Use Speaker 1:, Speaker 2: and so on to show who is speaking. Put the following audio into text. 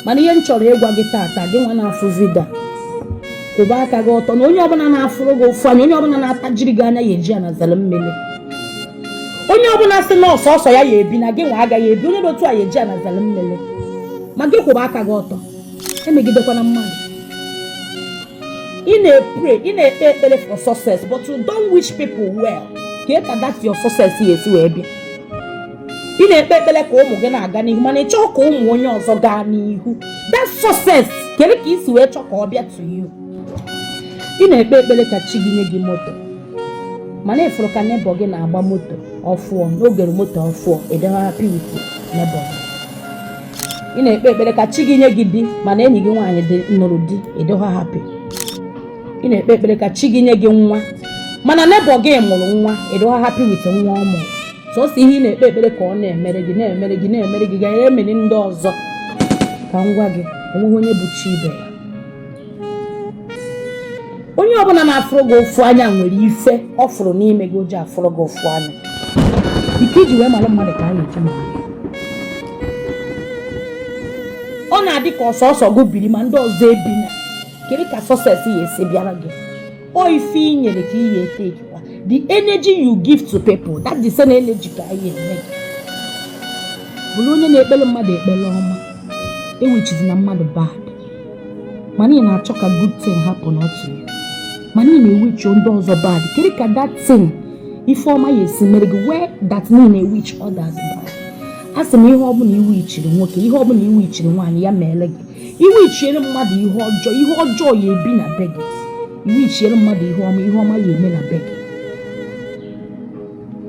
Speaker 1: mana ihe m chọrọ ịgwa gị tata gị nwa na-afụ vidio kwụba aka gị ọtọ na onye ọbụla na-afụrụ gị ụfụ anya onye ọbụla na-atajiri gị anya ya eji ana zere mmiri onye ọbụla sị na ọ sọsọ ya ya ebi na gị nwa agaghị ebi onye dị otu a ya eji ana zere mmiri ma gị kwụba aka gị ọtọ emegidekwana mmadụ ị na-epre ị na-ekpe ekpere for success but you don't wish people well kedu ka that your success ya esi wee bịa ị na-ekpe ekpere ka ụmụ gị na-aga n'ihu mana ị chọọ ka ụmụ onye ọzọ gaa n'ihu that success kedu ka i si wee chọọ ka ọ bịa to you ị na-ekpe ekpere ka chi gị nye gị moto mana ị fụrụ ka neighbor gị na-agba moto ọfụọ na o goro moto ọfụọ ị dịghị happy with neighbor gị ị na-ekpe ekpere ka chi gị nye gị di mana enyi gị nwaanyị nụrụ di ị dịghị happy ị na-ekpe ekpere ka chi gị nye gị nwa mana neighbor gị mụrụ nwa ị dịghị happy with nwa ọ mụrụ sọsọ ihe ị na-ekpe ekpere ka ọ na-emere gị na-emere gị na-emere gị gaghị emere ndị ọzọ ka m gwa gị onweghị onye bụ chi ibe ya onye ọbụla na-afụrụ gị ụfụ anya nwere ife ọ fụrụ n'ime gị o ji afụrụ gị ụfụ anya iko i ji wee mara mmadụ ka a na-eji mara gị ọ na-adị ka ọ sọsọ gị biri ma ndị ọzọ ebina kedu ka success ya esi bịara gị ọ ife i nyere ka ihe etekwa the energy you give to people that the same energy ka a ya enye gị bụrụ onye na-ekpere mmadụ ekpere ọma ewichizina mmadụ bad mana ị na-achọ ka good thing happen to you mana ị na-ewichi ndị ọzọ bad kedu ka that thing ife ọma ya esi mere gị whereas na ị na-ewichi others bad asị m ihe ọbụla i wichiri nwoke ihe ọbụla i wichiri nwaanyị ya meere gị i wichiere mmadụ ihe ọjọọ ihe ọjọọ ya ebi na be gị i wichiere mmadụ ihe ọma ihe ọma ya eme na be gị